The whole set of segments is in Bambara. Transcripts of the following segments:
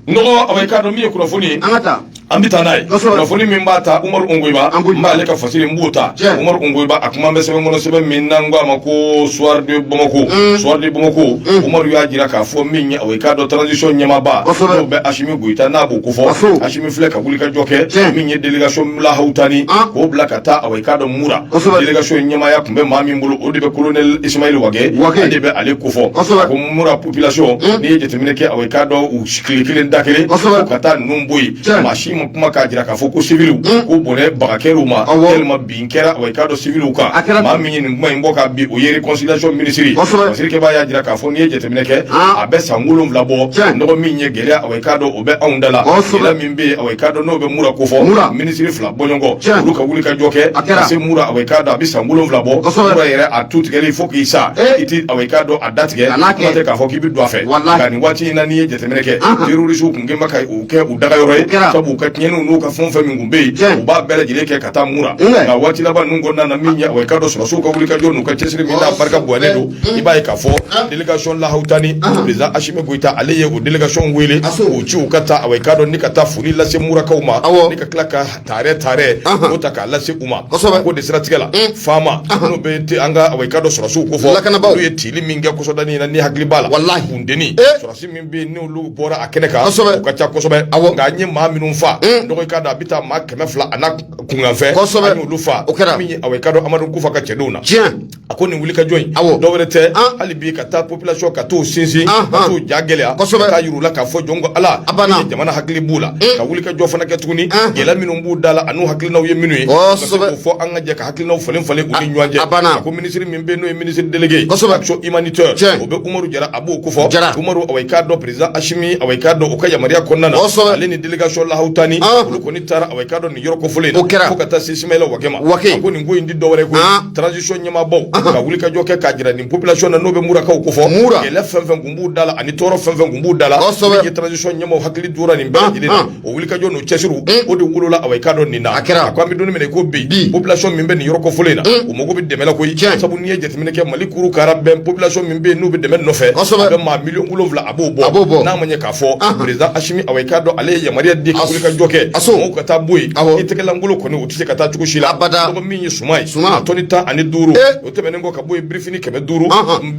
n'awa i k'a dɔn min ye kunnafoni an ka taa an bɛ taa n'a ye kunnafoni min b'a ta umaru nkoyiba n b'ale ka fasiri n b'o ta umaru nkoyiba a kuma bɛ sɛbɛn kɔnɔ sɛbɛn min n'an ko a ma ko soir de bamako mm. soir de bamako mm. umaru y'a jira k'a fɔ min ye awa i k'a dɔn transition ɲɛmaaba n'o bɛ asimi goyita n'a b'o kofɔ asimi filɛ ka wulikajɔ kɛ min ye délégation lahawutani k'o bila ka taa awa i k'a dɔn mura délégation ɲɛmaaya tun bɛ maa min bolo o de bɛ colonel isimayɛli wage ale de bɛ ale kofɔ ko mura population n'i ye jateminɛ kɛ aw k'a dɔn u tile kelen da kelen ka taa ninnu bɔ yen maa si ma kuma k'a jira k'a fɔ ko siwiliw ko bɔnɛ baga kɛra u ma walima bin kɛra aw k'a dɔn siwiliw kan maa min ye nin kuma in bɔ ka bin o ye réconciliation minisiri minisirikɛ b'a y'a jira k'a fɔ n'i ye jateminɛ kɛ a bɛ san wolonwula bɔ nɔgɔ min ye gɛlɛya aw k'a dɔn o bɛ anw da la sira min bɛ aw k'a dɔn n'o bɛ mura kofɔ minisiri fila bɔɲɔgɔnko olu ka wulikajɔ kɛ a se mura aw k'a dɔn a bɛ san wolonwula bɔ yɛrɛ a tu tigɛ fo k'i sa i tɛ aw k'a dɔn a datigɛ kuma tɛ k'a fɔ k'i bɛ don a fɛ nka nin waati in na n'i ye jateminɛ kɛ terrorisiw kun kɛnbɛ ka u kɛ u dagayɔrɔ ye sabu u ka tiɲɛniw n'u ka fɛn o fɛn min kun bɛ yen u b'a bɛɛ lajɛlen kɛ ka taa mura nka waati laban ninnu kɔnɔna na min ye awa i k'a dɔn sɔrɔsiw ka wulikajɔ n'u ka cɛsiri min n'a barika bonyalen don i b'a ye k'a fɔ delegation lahawutani président Asimi Goyita ale ye o delegation wele k'u ci u ka taa awa i k'a dɔn ni ka taa foli lase murakaw ma ni ka tila ka tare tare o ta k'a lase u ma ko de siratigɛ la faama n'o bɛ an ka awa i k'a dɔn sɔrɔsiw kofɔ olu ye tili min kɛ kɔsa da in na n'i hakili b'a la walahi funteni sɔrɔsi min bɛ yen n'olu bɔra a kɛnɛ kan kosɛbɛ u ka ca kosɛbɛ awɔ nka an ye maa minnu fa n'awa i k'a dɔn a bɛ taa maa kɛmɛ fila ani kunkanfɛn kosɛbɛ an y'olu fa o kɛra min ye awa i k'a dɔn Amadu Kufa ka cɛdenw na tiɲɛ a ko nin wulikajɔ in awɔ dɔ wɛrɛ tɛ hali bi ka taa population ka t'u sinsin ka t'u ja gɛlɛya kosɛbɛ ka taa yir'u la k'a fɔ jɔn ko ala a banna jamana hakili b'u la ka wulikajɔ fana kɛ tuguni gɛlɛya minnu b'u da la an'u hakilinaw ye minnu ye ka se k'o fɔ ani ka jɛ ka hakilinaw falen falen u ni ɲɔgɔn cɛ a banna a ko minisiri min bɛ n'o ye minisiri délégué kosɛbɛ action humanitaire o bɛ umaru jara a b'o kofɔ jara umaru awa i k'a dɔn président asimi awa i k'a dɔn o ka yamaruya kɔnɔna na kosɛbɛ ale ni délégation lahawutani olu kɔni taara awa i k'a dɔn nin yɔrɔ kofɔlen in na o kɛra fo ka taa se isimayɛli wage ma wage a ko nin ko in dɔ wɛrɛ ko transition ɲɛmaabaw ka wulikajɔ kɛ k'a jira nin population na n'o bɛ murakaw kofɔ mura gɛlɛya fɛn fɛn kun b'u da la ani tɔɔrɔ fɛn fɛn kun b'u da la kosɛbɛ ye transition ɲɛmaaw hakili tora nin bɛɛ lajɛlen na u wulikajɔ n'u cɛsiriw o de wolola awa i k'a dɔn nin na a kɛra a ko an bɛ don nin min na i ko bi population min bɛ nin yɔrɔ kofɔlen in na u mago bɛ dɛmɛ la koyi sabu n'i ye jateminɛ kɛ mali kuuru kaara bɛn population min bɛ yen n'u bɛ dɛmɛ nɔfɛ kosɛbɛ a bɛ maa miliyɔn wolonwula a b'o bɔ a b'o bɔ n'a ma ɲɛ k'a fɔ président Asimi awa i k'a dɔn ale ye yamaruya di ka wulikajɔ kɛ mɔgɔw ka taa bɔ yen i tɛgɛlankolo kɔni se ka taa cogo si la abada ko min ye suman ye suman tɔni tan ani duuru eh. o tɛmɛnen kɔ ka bɔ yen birifini kɛmɛ duuru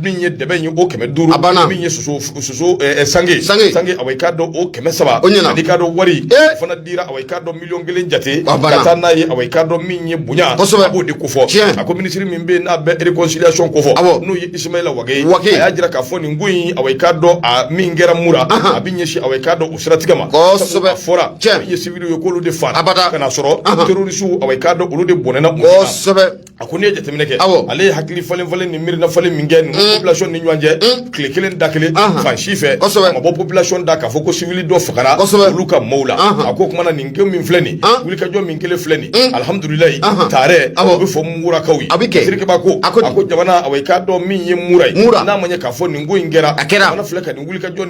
min ye dɛbɛn ye o kɛmɛ duuru a banna min ye soso soso eh, eh, sange sange sange awa i k'a dɔn o kɛmɛ saba o ɲɛna ani k'a dɔn wari o fana dira awa i k'a dɔn miliyɔn kelen jate ka taa n'a ye awa i k'a dɔn min ye bonya kosɛbɛ a b'o de kofɔ tiɲɛ a ko minisiri min bɛ yen n'a bɛ réconciliation kofɔ awɔ n'o ye Isimayila Wage ye Wage a y'a jira k'a fɔ nin ko in awa i k'a dɔn a min kɛra mura a bɛ ɲɛsin awa i k'a dɔn siratigɛ ma kosɛbɛ fɔra cɛ ye civil ye k'olu de faga abada ka n'a sɔrɔ terrorisiw awa i k'a dɔn olu de bɔnɛna kosɛbɛ a ko ne ye jateminɛ kɛ awɔ ale ye hakili falen falen ni miirina falen min kɛ ni population ni ɲɔgɔn cɛ tile kelen da kelen fan si fɛ kosɛbɛ a ma bɔ population da k'a fɔ ko civil dɔ fagara kosɛbɛ olu ka maaw la a ko kumana nin ko min filɛ nin wulikajɔ min kɛlen filɛ nin alhamdulilayi taarɛ a bɛ fɔ murakaw ye a bɛ kɛ sirikeba ko a ko jamana awa i k'a dɔn min ye mura ye n'a ma ɲɛ k'a fɔ nin ko in kɛra a kɛra a filɛ ka nin wulikajɔ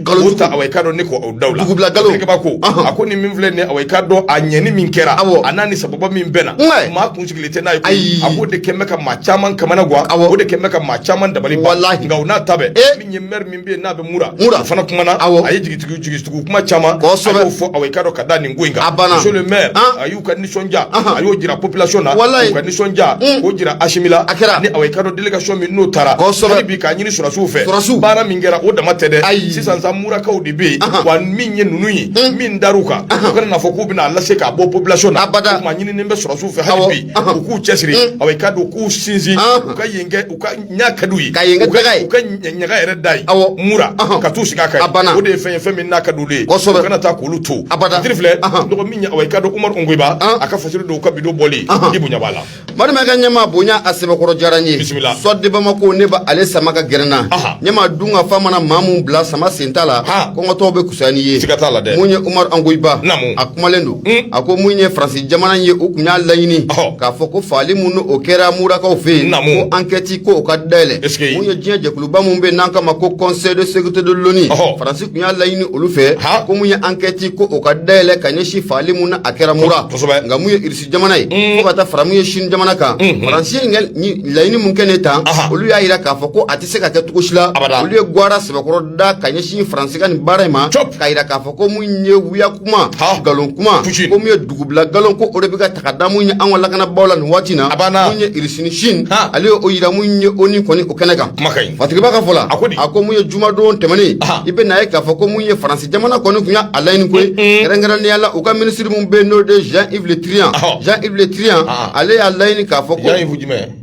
nkalon ta awa i k'a dɔn ne ko o dawula dugubila nkalon dugubila ko a ko nin min filɛ nin ye awa i k'a dɔn a ɲɛni min kɛra awɔ a n'a ni sababa min bɛnna maa kun sigilen tɛ n'a ye ayi a k'o de kɛlen bɛ ka maa caman kamanagwan awɔ o de kɛlen bɛ ka maa caman dabali ban walahi nka o n'a ta bɛɛ eh! min ye mɛri min bɛ yen n'a bɛ mura mura a fana kumana awɔ a ye jigitugu jigitugu kuma caman kosɛbɛ a y'o fɔ awa i k'a dɔn ka da nin ko in kan a banna monsieur le maire a y'u ka nisɔndiya a y'o jira population na walayi u ka nisɔndiya mm. k'o jira Asimi la a kɛra ni awa i k'a dɔn délégation min n'o taara kosɛbɛ hali bi k'a ɲini sɔrɔdasiw fɛ sɔrɔdasiw baara min kɛra o dama tɛ dɛ ayi sisan sa murakaw de bɛ yen wa min ye ninnu ye mm. min dar'u kan u kana n'a fɔ k'u bɛna a lase k'a bɔ population na abada o tuma ɲininen bɛ sɔrɔdasiw fɛ hali bi u k'u cɛsiri mm. awa i k'a dɔn k'u sinsin u ka yen kɛ u ka n'a ka d'u ye ka yen kɛ daga ye u ka ɲaga yɛrɛ da yen awɔ mura ka t'u sigi a kan a banna o de ye fɛn ye fɛn min n'a ka d'u ye kosɛbɛ u kana taa k'olu to abada titiri filɛ cogo min awa i k'a dɔn umaru ongoyiba a ka fasiri don u ka bido bɔli i bonya b'a la marimakɛ ɲɛma bonya a sɛbɛkɔrɔ diyara n ye bisimila soir de bamako ne b'ale sama ka gɛrɛ n na ɲɛma dunkafa mana maa mun bila sama sen ta la kɔngɔtɔw bɛ kusaya n'i ye siga t'a la dɛ mun ye umaru ongoyiba naamu kumalen don a ko mun ye faransi jamana ye u tun y'a laɲini k'a fɔ ko fagali minnu o kɛra murakaw fɛ yen ko ankɛti ko o ka dayɛlɛ mun ye diɲɛ jɛkuluba minnu bɛ n'an k'a ma ko conseil de sécurité de l'ONU faransi tun y'a laɲini olu fɛ ko mun ye ankɛti ko o ka dayɛlɛ ka ɲɛsin fagali minnu n'a kɛra mura nka mun ye irisi jamana ye fo ka taa fara mun ye sini jamana kan faransi laɲini mun kɛnen tan olu y'a jira k'a fɔ ko a tɛ se ka kɛ cogo si la olu ye gwara sɛbɛkɔrɔ da ka ɲɛsin faransi ka nin baara in ma k'a jira k'a fɔ ko mun ye wuya kuma nkalon kuma ko mun ye dugubila nkalon ko o de bɛ ka ta ka da mun ye an ka lakanabaaw la nin waati na mun ye irisi ni sini ale ye o yira mun ye ONU kɔni o kɛnɛ kan fatigiba ka fɔ la a ko mun ye jumadon tɛmɛnen i bɛna a ye k'a fɔ ko mun ye faransi jamana kɔni tun y'a laɲini ko ye kɛrɛnkɛrɛnnenya la u ka minisiri mun bɛ yen n'o de ye jean yves le trian jean yves le trian ale y'a laɲini k'a fɔ ko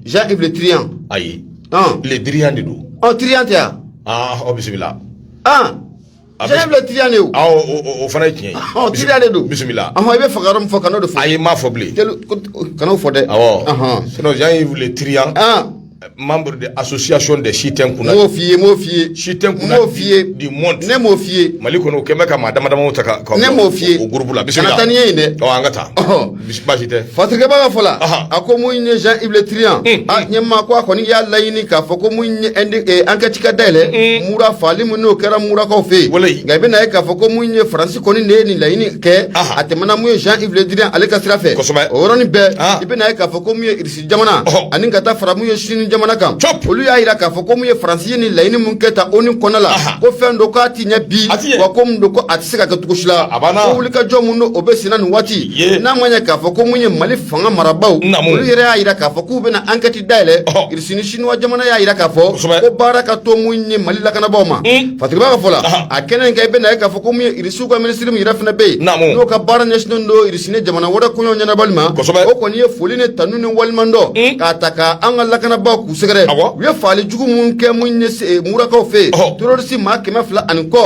jean yves le trian ayi le drian de don ɔ trian tɛ yan ɔ bisimila Jean Yves le Drian de ye o. Awɔ o o o fana ye tiɲɛ ye. Ɔhɔn Drian de don. Bisimila. Ɔhɔn i bɛ fagayɔrɔ min fɔ kan'o de fɔ. Ayi n m'a fɔ bilen. Telu ko kan'o fɔ dɛ. Awɔ. Ɔhɔn. Sinon Jean Yves le Drian. An. Membre de association des si tɛ n kunna. N m'o f'i ye, n m'o f'i ye. Si tɛ n kunna. N m'o f'i ye. Du monde. Ne m'o f'i ye. Mali kɔnɔ u kɛlen bɛ ka maa dama damaw ta ka ka. Ne m'o f'i ye. O groupe la bisimila. Kana taa ni n ye yen dɛ. Ɔ an ka taa. Ɔhɔn. Basi baasi tɛ. Fasirikɛba ka fɔ la, Ahan. a ko mun ye Jean Yves Le Drian, Un, a ɲɛmaa ko a kɔni y'a laɲini k'a fɔ ko mun ye indi- eh, enquête ka dayɛlɛ, mura faali min n'o kɛra murakaw fɛ yen. Walayi. Nka i bɛna ye k'a fɔ ko mun ye Faransi kɔni de ye nin laɲini kɛ, Ahan. a tɛmɛna mun ye Jean Yves Le Drian ale ka sira fɛ. Kosɛbɛ. O yɔrɔnin bɛɛ, Ah. i bɛna ye k'a fɔ ko mun ye Irisi jamana ani ka taa fara mun ye sini jamana kan olu y'a jira k'a fɔ ko mun ye faransi ye ni laɲini mun kɛ ta o ni kɔnɔ la ko fɛn don k'a tiɲɛ bi wa ko mun don ko a tɛ se ka kɛ cogo si la ko wulikajɔ mun n'o bɛ senna nin waati n'a ma ɲɛ k'a fɔ ko mun ye mali fanga marabaaw olu yɛrɛ y'a jira k'a fɔ k'u bɛna ankɛti dayɛlɛ irisi ni sinuwa jamana y'a jira k'a fɔ ko baara ka to mun ye mali lakanabaaw ma hmm. fasirikɛba ka fɔ la a kɛnɛ in kan i bɛna ye k'a fɔ ko mun ye irisiw ka minisiri min yɛrɛ fana bɛ yen n'o ka baara ɲɛsinnen don ni jamana wɛrɛ koɲɛ ɲɛnabɔli ma kosɛbɛ o kɔni ye foli ni tanu ni waleɲumandɔn k'a ta ka an ka lakanabaaw k'u sɛgɛrɛ u ye faali jugu mun kɛ mun ye eh, murakaw fɛ yen terorisi maa kɛmɛ fila ani kɔ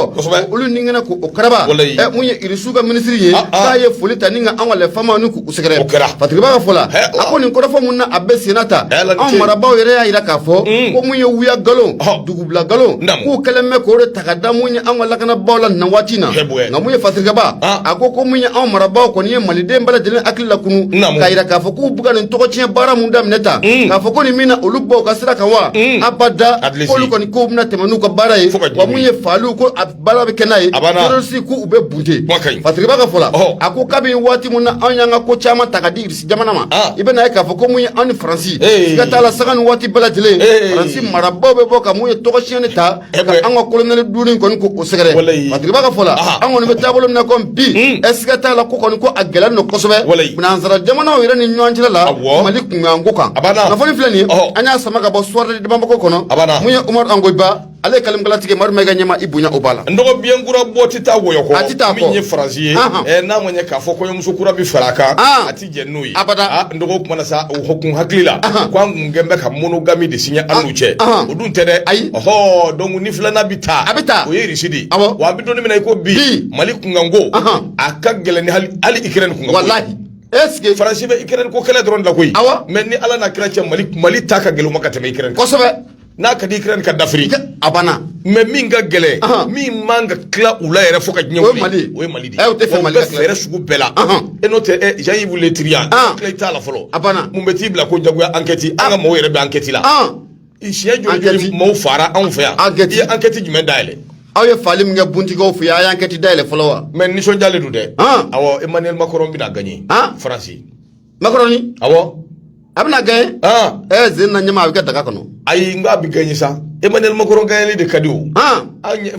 olu ni kɛnɛ k'o karaba eh, mun ye irisiw ka minisiri ye ah, ah. k'a ye foli ta ni ka an ka les FAMa ni k'u sɛgɛrɛ fasirikɛba ka fɔ la a ko nin kɔrɔfɔ mun na a bɛ senna ta anw marabaaw yɛrɛ y'a jira k'a fɔ mm. ko mun ye wuya nkalon Bila nkalon k'u kɛlen bɛ k'o de ta ka da mun ye an ka lakanabaw la na waati na nka mun ye fasirikɛba a ko ko mun ye anw marabaaw kɔni ye maliden bɛɛ lajɛlen hakili lakunun k'a jira k'a fɔ k'u bɛ ka nin tɔgɔcɛn baara min daminɛ ta mm. k'a fɔ ko nin min na olu b'u ka sira kan wa mm. abada k'olu kɔni k'u bɛna tɛmɛn n'u ka baara ye wa mun ye fa ko baara bɛ kɛ n'a ye terroriste ko u bɛ bunte Fasirikɛba ka fɔ la a ko kabini waati min na anw y'an ka ko caman ta ka di Irisi jamana ma ah. i bɛna ye k'a fɔ ko mun ye anw ni Faransi siga t'a la sanga ni waati bɛɛ lajɛlen Faransi marabaaw bɛ bɔ ka mun ye tɔgɔcɛn de ta eh ka an ka kolonɛli duuru nin kɔni ko o sɛgɛrɛ Fasirikɛba ka fɔ la ah. an kɔni bɛ taabolo min na i ko bi hmm. ɛ siga t'a la ko kɔni ko a gɛlɛn don kosɛbɛ nansara jamanaw yɛrɛ ni ɲɔgɔn cɛla la Mali kunkanko kan kunnafoni filɛ nin ye an y'a sama ka bɔ Soir de Bamako kɔnɔ mun ye Umaru Ongoyiba ale kalimu ka latigɛ mari mayiga ɲɛmaa i bonya o b'a la n dɔgɔ biyɛn kura bɔ tɛ taa wɔyɔ kɔ a tɛ taa min ye faransi ye n'a ma ɲɛ k'a fɔ kɔɲɔmuso kura bɛ fara a kan a tɛ jɛn n'o ye abada n dɔgɔ kuma na sa o kun hakili la k' an kun kɛlen bɛ ka monogami de siɲɛ an n'u cɛ o dun tɛ dɛ ayi ɔɔ donc ni filanan bɛ ta a bɛ ta o ye irisi de wa an bɛ don min na i ko bi mali kunkanko a ka gɛlɛn hali ikirɛni kunkanko eseke faransi bɛ ikirɛni ko kɛlɛ dɔrɔn de la koyi awɔ mais ni ala n'a kira cɛ mali mali ta ka gɛlɛnma ka tɛmɛ ikirɛni kosɛbɛ n'a ka di Ukraine ka d'Afrique a banna mais min ka gɛlɛn min man ka tila u la yɛrɛ fo ka diɲɛ wuli mali o ye mali de ye tɛ fɛn mali fɛɛrɛ sugu bɛɛ la e n'o tɛ Jean-Yves Le Drian tila t'a la fɔlɔ a banna mun bɛ t'i bila ko jagoya ankɛti an ka mɔgɔw yɛrɛ bɛ ankɛti la siɲɛ joli joli mɔgɔw faara anw fɛ yan ye ankɛti jumɛn dayɛlɛ aw ye faali min kɛ Bunti kɔfɛ yan a y'ankɛti dayɛlɛ fɔlɔ wa mais nisɔndiyalen don dɛ awɔ emmanuel macron bɛna gagner faransi makɔrɔni awɔ a bɛna gagner ɛ zen na ɲɛma a bɛ kɛ daga kɔnɔ ayi n ko a bɛ gagner sa Emmanuel Macron gagnerli de ka di o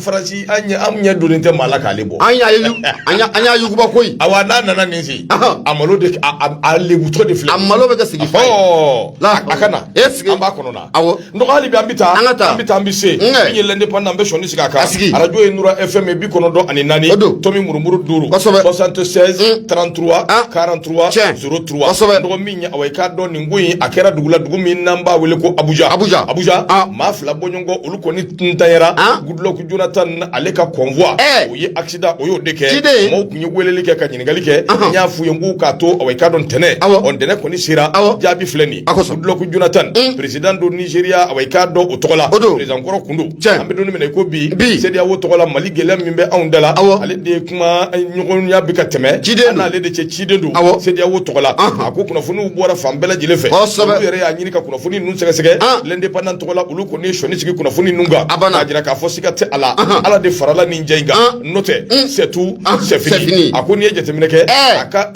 faransi an ɲɛ donnen tɛ maa la k'ale bɔ an y'a yuguba koyi awa n'a nana nin sen a malo a lebutɔ de filɛ a malo bɛ kɛ sigi a ka na e sigi an b'a kɔnɔ dɔgɔ hali bi an bɛ taa an ka taa an bɛ taa an bɛ se min ye l'Indépendant bɛ sɔnni sigi a kan arajo ye Nura FM bi kɔnɔntɔn ani naani tomi murumuru duuru soixante-seize trente-trois quarante-trois zéro trois dɔgɔ min ye awa i k'a dɔn nin ko in a kɛra dugula dugu min n'an b'a wele ko abuja abuja abuja maa fila bɔɲɔgɔn olu kɔni ntanyara Goodluck Jonathan ale ka convoi o ye accident o y'o de kɛ mɔgɔw tun ye weleli kɛ ka ɲininkali kɛ n y'a f'u ye n k'u k'a to awa i k'a dɔn ntɛnɛn ɔ ntɛnɛn kɔni sera jaabi filɛ nin ye Goodluck Jonathan peresidan don nizeriya awa i k'a dɔn o tɔgɔ la peresidan kɔrɔ kun don an bɛ don min na i ko bi sediyawo tɔgɔ la mali gɛlɛya min bɛ anw da la ale de ye kuma ɲɔgɔnya bɛ ka tɛmɛ an n'ale de cɛ ciden don sediyawo tɔgɔ la a ko kunnafoniw bɔra fan bɛɛ lajɛlen fɛ olu yɛrɛ y'a ɲini ka kunnafoni ninnu sɛgɛsɛgɛ l'Indépendant tɔgɔ la olu kɔni ye sɔnni sigi kunnafoni ninnu kan a b'a jira k'a fɔ siga tɛ a la ala de farala nin kan n'o tɛ c'est tout c'est fini a ko n'i ye jateminɛ kɛ a ka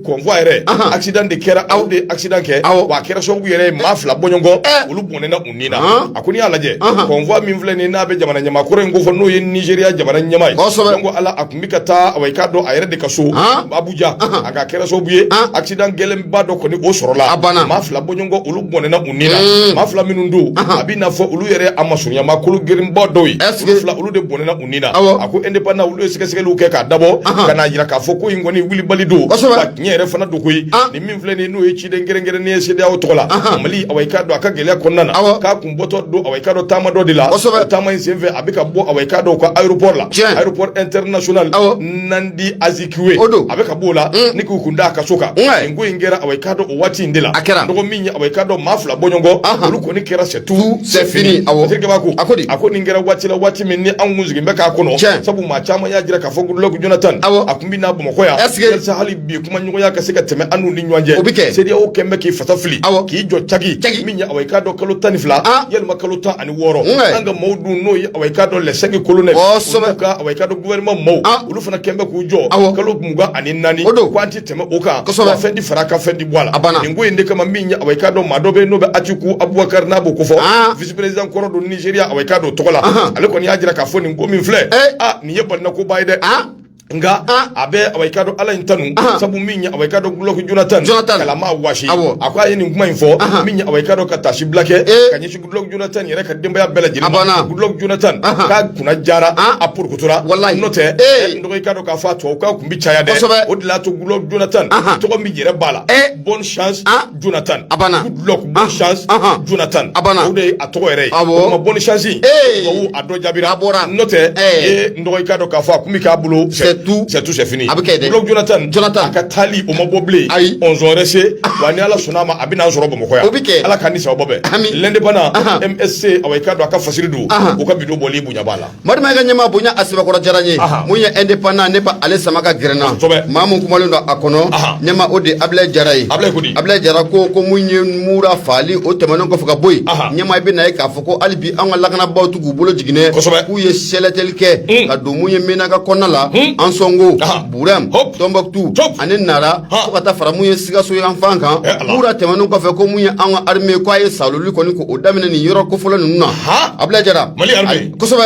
convoi yɛrɛ accident de kɛra o de accident kɛ awa a kɛra sababu yɛrɛ maa fila bɔɲɔgɔn olu bɔnɛna u ni na a ko n'i y'a lajɛ convoi min filɛ nin n'a bɛ jamana ɲɛmaa kɔrɔ in ko fɔ n'o ye nizeriya jamana ɲɛmaa ye ko ale tun bɛ ka taa awa i k'a dɔn a yɛrɛ de ka so abuja nka a kɛra sababu ye accident gɛlɛnba dɔ kɔni o sɔrɔla maa fila bɔɲɔgɔn olu bɔnɛna ni na maa fila minnu don a bɛna fɔ olu yɛrɛ a masurunyamaa kologirinba dɔw ye fila olu de bɔnɛna u ni na a ko Indépendant olu ye sɛgɛsɛgɛliw kɛ k'a dabɔ ka n'a jira k'a fɔ ko in kɔni wulibali don tiɲɛ yɛrɛ fana don koyi ah. nin min filɛ nin n'o ye ciden kɛrɛnkɛrɛnnen ye sediyawo tɔgɔ la mali awa i k'a dɔn a ka gɛlɛya kɔnɔna na k'a kun bɔtɔ don awa i k'a dɔn taama dɔ de la taama in senfɛ a bɛ ka bɔ awa i k'a dɔn ka aéroport la aéroport international Nnamdi Azikiwe o don a bɛ ka b'o la mm. ni k'u kun da a ka so kan nin ko in kɛra awa i k'a dɔn o waati in de la a kɛra dɔgɔ min ye awa i k'a dɔn maa fila bɔɲɔgɔn olu kɔni kɛra c'est tout c'est fini awɔ terikɛba ko a ko di a ko nin kɛra waati la waati min ni anw kun sigilen bɛ k'a kɔnɔ tiɲɛ sabu maa caman y'a jira k'a fɔ Goodluck Jonathan awɔ a tun bɛ na bamakɔ yan yalasa hali bi kuma ɲɔgɔnya ka se ka tɛmɛ an n'u ni ɲɔgɔn cɛ o bɛ kɛ sedeyawo kun bɛ k'i fasa fili awɔ k'i jɔ caki caki min ye awa i k'a dɔn kalo tan ni fila walima kalo tan wɔɔrɔ an ka maaw dun n'o ye awa i k'a dɔn les cinq colonels kosɛbɛ ka awa i k'a dɔn gouvernement maaw ah. olu fana kɛlen bɛ k'u jɔ awɔ kalo mugan ani naani o don k'an ti tɛmɛ o kan kosɛbɛ fɛn ti fara a kan fɛn ti bɔ a la a banna nin ko in de kama min ye awa i k'a dɔn maa dɔ bɛ n'o bɛ Atiku Abubakari n'a b'o ko fɔ ah. vice président kɔrɔ don Nigeria awa i k'a dɔn tɔgɔ la ale kɔni y'a jira k'a fɔ nin ko min filɛ eh. aa ah, nin ye balinakoba ye dɛ nka a bɛ awa i k'a dɔn ala in tanu sabu min ye awa i k'a dɔn Goodluck Jonathan k'ale ma waasi a ko a ye nin kuma in fɔ min ye awa i k'a dɔn ka taasibila kɛ k'a ɲɛsin Goodluck Jonathan yɛrɛ ka denbaya bɛɛ lajɛlen ma Goodluck Jonathan k'a kunna jara a porokotora wala n'o tɛ n dɔgɔ i k'a dɔn k'a fɔ to k' tun bɛ caya dɛ o de l'a to Goodluck Jonathan tɔgɔ min yɛrɛ b'a la bonne Jonathan a banna Goodluck bonne chance Ahan. Jonathan A banna. o de ye a tɔgɔ yɛrɛ ye Awɔ. o kuma bonne chance Ee. tubabu a dɔ jaabira A bɔra. n'o tɛ Ee. n dɔgɔ i k'a dɔn k'a fɔ a kun bɛ k'a bolo C'est tout. c'est tout c'est fini A bɛ kɛ dɛ. Goodluck Jonathan Jonathan. a ka taali o ma bɔ bilen Ayi. on zɔn wɛrɛ se wa ni ala sɔnna a ma a bɛna an sɔrɔ bamakɔ yan O bɛ kɛ. ala k'an ni sawaba bɛn Ami. L'Indépendant Ahan. MSC awa i k'a dɔn a ka fasiri don Ahan. o ka bido bɔli bonya b'a la Marima ka ɲɛmaa bonya a sɛbɛkɔrɔ diyara n ye mun ye Indépendant ne ba ale sama k'a gɛrɛ n na maa min kumalen don a kɔnɔ ɲɛma o de Abulayi Jara ye Abulayi Jara ko ko mun ye Mura faali o tɛmɛnen kɔfɛ ka bɔ yen ɲɛmaa bɛ na yen k'a fɔ ko hali bi an ka lakanabaw tɛ k'u bolo jigin dɛ kosɛbɛ k'u ye sɛlɛteli kɛ ka don mun ye Menaka kɔnɔna la Ansɔngo Burɛmu Tɔnbukutu ani Nara fo ka taa fara mun ye Sikaso yan fan kan Mura tɛmɛnen kɔfɛ ko mun ye an ka armée ko a ye saaloli kɔni k'o daminɛ nin yɔrɔ kofɔlen ninnu na Abulayi Jara Mali armée kosɛbɛ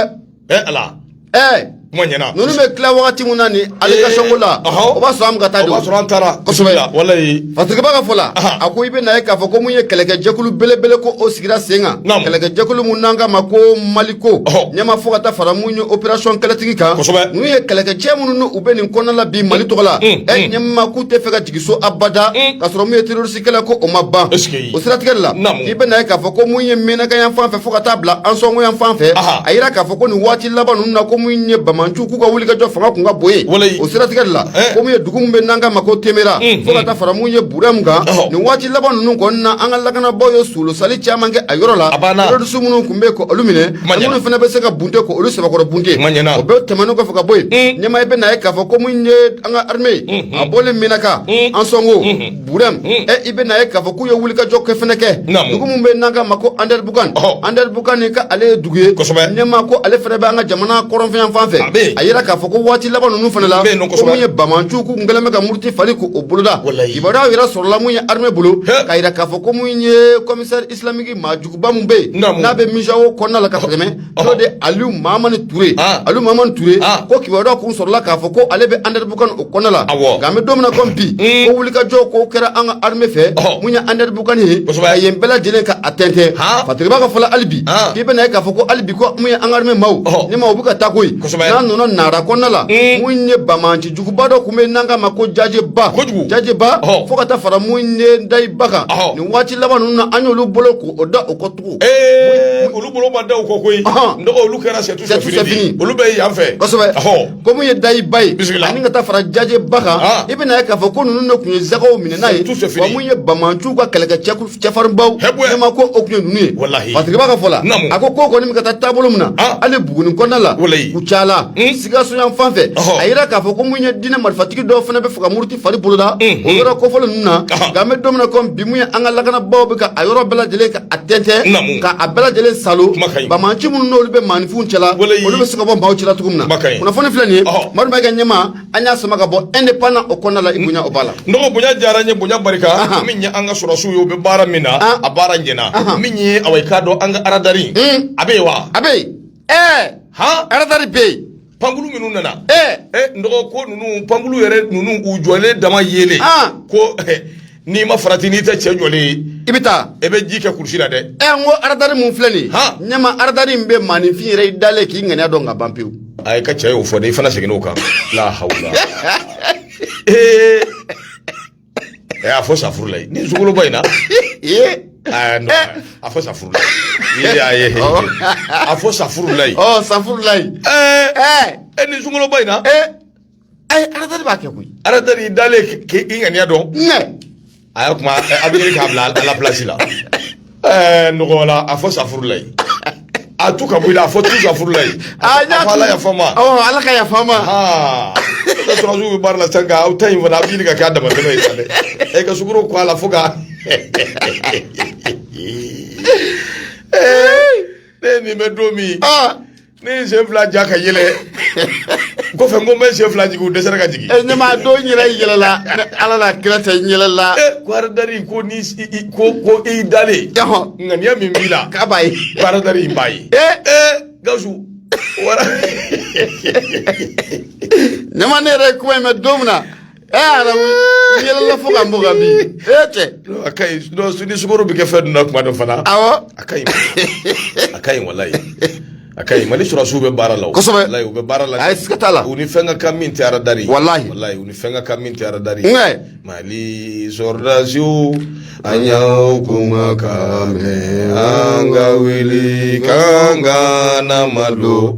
ɛɛ Ala ɛɛ kuma ɲɛna ninnu bɛ tila wagati min na nin allocation ko la o b'a sɔrɔ an bɛ ka taa de o o b'a sɔrɔ an taara kosɛbɛ walahi Fasirikɛbaa ka fɔ la a ko i bɛ na ye k'a fɔ ko mun ye kɛlɛkɛjɛkulu belebele ko o sigira sen kan kɛlɛkɛjɛkulu min n'an k'a ma ko Maliko ɲɛma fo ka taa fara mun ye opération Kɛlɛtigi kan ninnu ye kɛlɛkɛcɛ minnu n'u bɛ nin kɔnɔna la bi mali tɔgɔ la e ɲɛma k'u tɛ fɛ ka jigin so abada ka sɔrɔ mun ye terroriste kɛlɛ ko o ma ban o siratigɛ la i bɛ na ye k'a fɔ ko mun ye Menaka yan fan fɛ fo ka taa bila Ansɔngo yan fan fɛ a jira k'a fɔ ko nin waati laban ninnu na ko mun ye banbaanciw k'u ka wulikajɔ fanga kun ka bon yen Walayi. o siratigɛ de la Eh. ko mun ye dugu min bɛ n'an k'a ma ko Temera Mm, fo ka taa fara mun ye Burɛmu kan Ɔhɔ. nin waati laban ninnu kɔni na an ka lakanabaaw ye solosali caman kɛ a yɔrɔ la A banna. terroriste minnu tun bɛ yen ko olu minɛ Ma ani ɲɛna. minnu fana bɛ se ka bunte ko olu sɛbɛkɔrɔ bunte Ma ɲɛna. o bɛɛ tɛmɛnen kɔfɛ ka bɔ yen Mm. ɲɛmaa i bɛ na ye k'a fɔ ko mun ye an ka armée, a bɔlen Menaka Ansɔngo Burɛmu ɛ eh, i bɛ na ye k'a fɔ k'u ye wulikajɔ kɛ fana kɛ dugu min bɛ n'an k'a ma ko Andɛribukan Andɛribukan nin k'ale ye dugu ye ɲɛmaa ko ale fana bɛ an ka jamana kɔrɔnfɛ yan fan fɛ a jira k'a fɔ ko waati laban ninnu fana la ko mun ye banbaanciw k'u kɛlen bɛ ka muruti fali k'o boloda kibaruyaw yɛrɛ sɔrɔla mun ye armée bolo k'a jira k'a fɔ ko mun ye commissaire islamique maajuguba min bɛ yen n'a bɛ MUJAO kɔnɔna la ka tɛmɛ n'o de ye Aliu Mamani Ture, an, Aliu Mamani Ture, an, ko kibaruya dɔ kun sɔrɔla k'a fɔ ko ale bɛ Andɛrɛbukan o kɔnɔ la, awɔ, nka an bɛ don min na komi bi, un, ko wulikajɔ ko kɛra an ka armée fɛ, ɔhɔ, mun ye Andɛrɛbukan ye, kosɛbɛ, ka yen bɛɛ lajɛlen ka a tɛntɛn, han, Fatigiba ka fɔ la hali bi, an, k'i bɛna ye k'a fɔ ko hali bi ko mun ye an ka armée maaw, ɔhɔ, ni maaw bɛ ka taa koyi, kosɛbɛ, n'a nana Nara kɔnɔna la, un, mun ye bamanci juguba dɔ tun bɛ yen n'an k'a ma ko Jajeba, kojugu, Jajeba, ɔhɔ, fo ka taa fara mun ye Dayiba kan, ɔhɔ, nin waati laban ninnu na an y'olu bolo k'o da o kɔ Ee olu bolo ma da u kɔ koyi, ɔnhɔn, donc olu kɛra c'est tout c'est fini de ye, olu bɛ yan fɛ, kosɛbɛ, ɔhɔ, ko mun ye Dayiba ye, bisimila, ani ka taa fara Jajeba kan, an, i bɛna ye k'a fɔ ko ninnu de tun ye zakaw minɛna ye, tout c'est fini, wa mun ye bamanciw ka kɛlɛkɛcɛ farinbaw, hɛbuɛ, ne ma ko o tun ye ninnu ye, walahi, Fatigiba ka fɔ la, naamu, a ko k'o kɔni bɛ ka taa taabolo min na, an, hali Buguni kɔnɔna la, walahi, Kucala, un, Sikaso yan fan fɛ, ɔhɔ, a yira k'a fɔ ko mun ye diinɛ marifatigi dɔw fana bɛ fɛ ka muruti fari boloda o yɔrɔ kofɔlen ninnu na nka an bɛ don min na komi bi mun ye an ka lakanabaaw bɛ ka a yɔrɔ bɛɛ lajɛlen ka a tɛntɛn ka a bɛɛ lajɛlen salo bamanci minnu n'olu bɛ maaninfinw cɛla olu bɛ se ka bɔ maaw cɛla cogo min na kunnafoni filɛ nin ye Madu Mayiga ɲɛma an y'a sama ka bɔ indépendant o kɔnɔna la i bonya o b'a la n dɔgɔ bonya diyara n ye bonya barika min ye an ka sɔrɔsiw ye u bɛ baara min na a baara ɲɛna min ye awa i k'a dɔn an ka aradari a bɛ yen wa a bɛ yen ɛɛ han aradari bɛ yen pankulu minnu nana eh. eh, nɔgɔ ko ninnu pankulu yɛrɛ ninnu u jɔlen dama yelen ah. ko eh, n'i ma farati n'i tɛ cɛ jɔlen ye i bɛ taa i bɛ ji kɛ kurusi la dɛ ɛ n ko aradari min filɛ nin ye ɲɛma aradari min bɛ maaninfin yɛrɛ i dalen k'i ŋaniya dɔn ka ban pewu a i ka cɛ y'o fɔ dɛ i fana seginna o kan la hawula ɛ a fɔ safurulayi ni sukoloba in na ee aa non a fɔ safurulayi y'a ye a fɔ safurulayi ɔ safurulayi ɛɛ ɛɛ e ni sukoloba in na ee ayi aradari b'a kɛ koyi aradari i dalen k'i ŋaniya dɔn nɛ a y'a kuma a bɛ ɲini k'a bila a la pilasi la ɛɛ nɔgɔ wala a fɔ safurulayi a tu ka bɔ i la a fɔ tu safurulayi a fɔ ala yafa ma awɔ ala ka yafa ma ne sɔrɔsiw bɛ baara la sisan nka aw ta in fana a bɛ ɲini ka kɛ a damatɛmɛ ye sa dɛ ɛ ka sukaro kɛ a la fo ka ne ye nin mɛn don min ne ye sen fila ja ka yɛlɛ kɔfɛ n ko n bɛ sen fila jigin u dɛsɛra ka jigin. ɛ ne m'a dɔn n yɛrɛ yɛlɛla ni ala n'a kira tɛ n yɛlɛla. ɛ ko aradari ko ni ko ko i dalen. ŋaniya min b'i la. k'a b'a ye. ko aradari in b'a ye. ɛ ɛ gawusu wara. ɲɛma ne yɛrɛ ye kuma in mɛn don min na. yɛlɛla fo ka bɔ ka bin e cɛ a ka ɲi ni sukoro bɛ kɛ fɛn dun na kuma dɔ fana awɔ a ka ɲi a ka ɲi walayi a ka ɲi mali sɔrɔsiw bɛ baara la kosɛbɛ walayi u bɛ baara la ayi siga t'a la u ni fɛn ka kan min tɛ aradari walayi walayi u ni fɛn ka kan min tɛ aradari nkɛ mali sɔrɔdasiw an y'aw kumakan mɛn an ka wuli k'an kana malo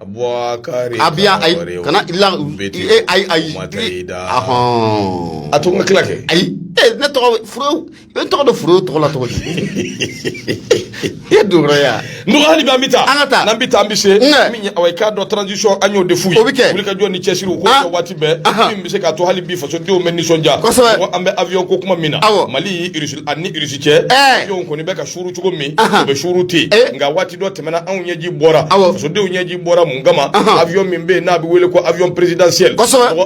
Abubakari abiya ayi kana ila e ayi ayi a to n ka tila kɛ ayi e ne tɔgɔ furu e tɔgɔ dɔ furu tɔgɔ la tɔgɔ di e dora ya n dɔgɔ hali bi an bɛ taa an ka taa n'an bɛ taa an bɛ se min ye awa i k'a dɔn transition an y'o de f'u ye o bɛ kɛ wuli ka jɔ ni cɛsiriw ko kɛ waati bɛɛ min bɛ se k'a to hali bi fasodenw bɛ nisɔndiya kosɛbɛ an bɛ avion ko kuma min na awɔ Mali ani irisi cɛ avion kɔni bɛ ka suuru cogo min u bɛ suuru ten nka waati dɔ tɛmɛna anw ɲɛji bɔra fasodenw ɲɛji bɔra mun kama avion min bɛ yen n'a bɛ wele ko avion présidentiel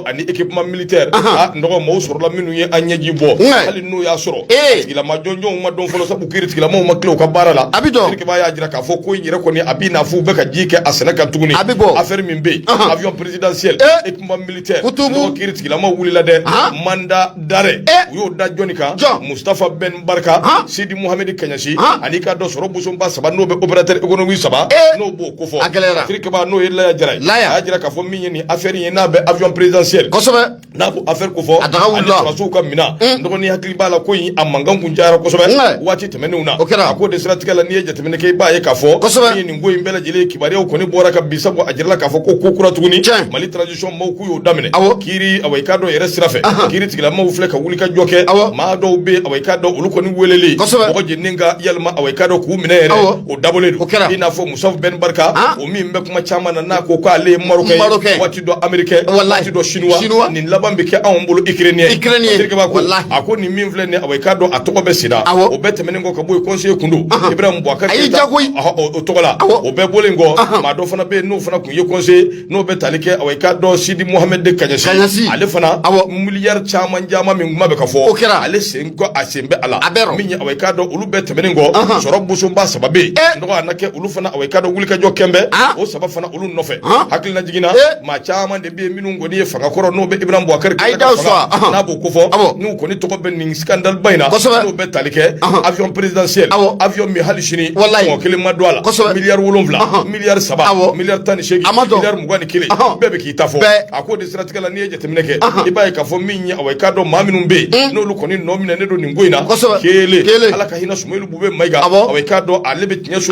ani équipement militaire n dɔgɔ maaw sɔrɔla minnu ye an ɲɛji bɔ hali n'o y'a sɔrɔ tigilama jɔnjɔnw ma dɔn fɔlɔ sabu kiri tigilamaw ma tila u ka baara la terikɛba y'a jira k'a fɔ ko in yɛrɛ kɔni a b'i n'a fɔ u bɛ ka ji kɛ a sɛnɛ kan tuguni a bɛ bɔ affaire min bɛ yen avion présidentiel équipement militaire kiiri tigilamaw wulila dɛ mandat d'arrêt eh? u y'o da jɔni kan mustafa ben barika sidi muhamedi kaɲasi ani i k'a dɔn sɔrɔ bosoba saba n'o bɛ opérateur économique saba eh? n'o b'o kofɔ a gɛlɛyara terikɛba n'o ye laya jara ye a y'a jira k'a fɔ min ye nin affaire ye n'a bɛ avion présidentiel kosɛbɛ n'a b'o affaire kofɔ a daga wulila ani sɔrɔsiw ka minɛn hmm. dɔgɔni hakili b'a la ko in a mankan kun cayara kosɛbɛ waati tɛmɛnenw na o kɛra a ko de siratigɛ la n'i ye jateminɛ kɛ i b'a ye k'a fɔ kosɛbɛ ko in bɛɛ lajɛlen kibaruyaw kɔni bɔra ka bi sabu a jirala k'a fɔ ko ko kura tuguni mali transition maaw k'u y'o daminɛ awɔ kiri awa i k'a dɔn yɛrɛ sira fɛ kiri tigilamaw filɛ ka wuli ka jɔ kɛ awɔ maa dɔw bɛ awa i k'a dɔn olu kɔni weleli kosɛbɛ mɔgɔ jeninen ka yalima awa i k'a dɔn k'u minɛ yɛrɛ o dabɔlen don o kɛra i n'a fɔ mustafa ben barika o min bɛ kuma caman na n'a ko k'ale ye marokɛ ye dɔ américain waati dɔ chinois chinois nin laban bɛ kɛ anw bolo ukrainien ukrainien terikɛba ko a ko nin min filɛ nin awa i k'a dɔn a tɔgɔ bɛ sida o bɛɛ tɛmɛnen kɔ ka bɔ yen conseiller kun don ibrahim boubacar keita o tɔgɔ la o bɛɛ bɔlen kɔ maa dɔ fana bɛ yen n'o fana kun ye conseiller n'o bɛ tali kɛ awa i k'a dɔn sidi mohamed kaɲasi ale fana miliyari caman caman min kuma bɛ ka fɔ o kɛra ale sen kɔ a sen bɛ a la a bɛɛ min ye awa i k'a dɔn olu bɛɛ tɛmɛnen kɔ sɔrɔ bosoba saba bɛ yen nɔgɔ a na kɛ olu fana awa i k'a dɔn wulikajɔ kɛlen bɛ o saba fana olu nɔfɛ hakililajigin na maa caman de bɛ yen minnu kɔni ye fanga kɔrɔ n'o bɛ ibrahim boubacar keita fanga n'a b'o ko fɔ n'u kɔni tɔgɔ bɛ nin skandaliba in na n'o bɛ tali kɛ avion présidentiel avion min hali sini mɔgɔ kelen ma don a la miliyari wolonwula miliyari saba miliyari tan ni seegin miliyari mugan ni kelen bɛɛ bɛ k'i ta fɔ a ko de siratigɛ la n'i ye jateminɛ kɛ i b'a ye k'a fɔ min ye awa i k'a dɔn maa minnu bɛ yen n'olu kɔni nɔ minɛnen don nin ko in na kelen ala ka hinɛ sumeyilu bubɛyi mayiga awa i k'a dɔn ale bɛ tiɲɛso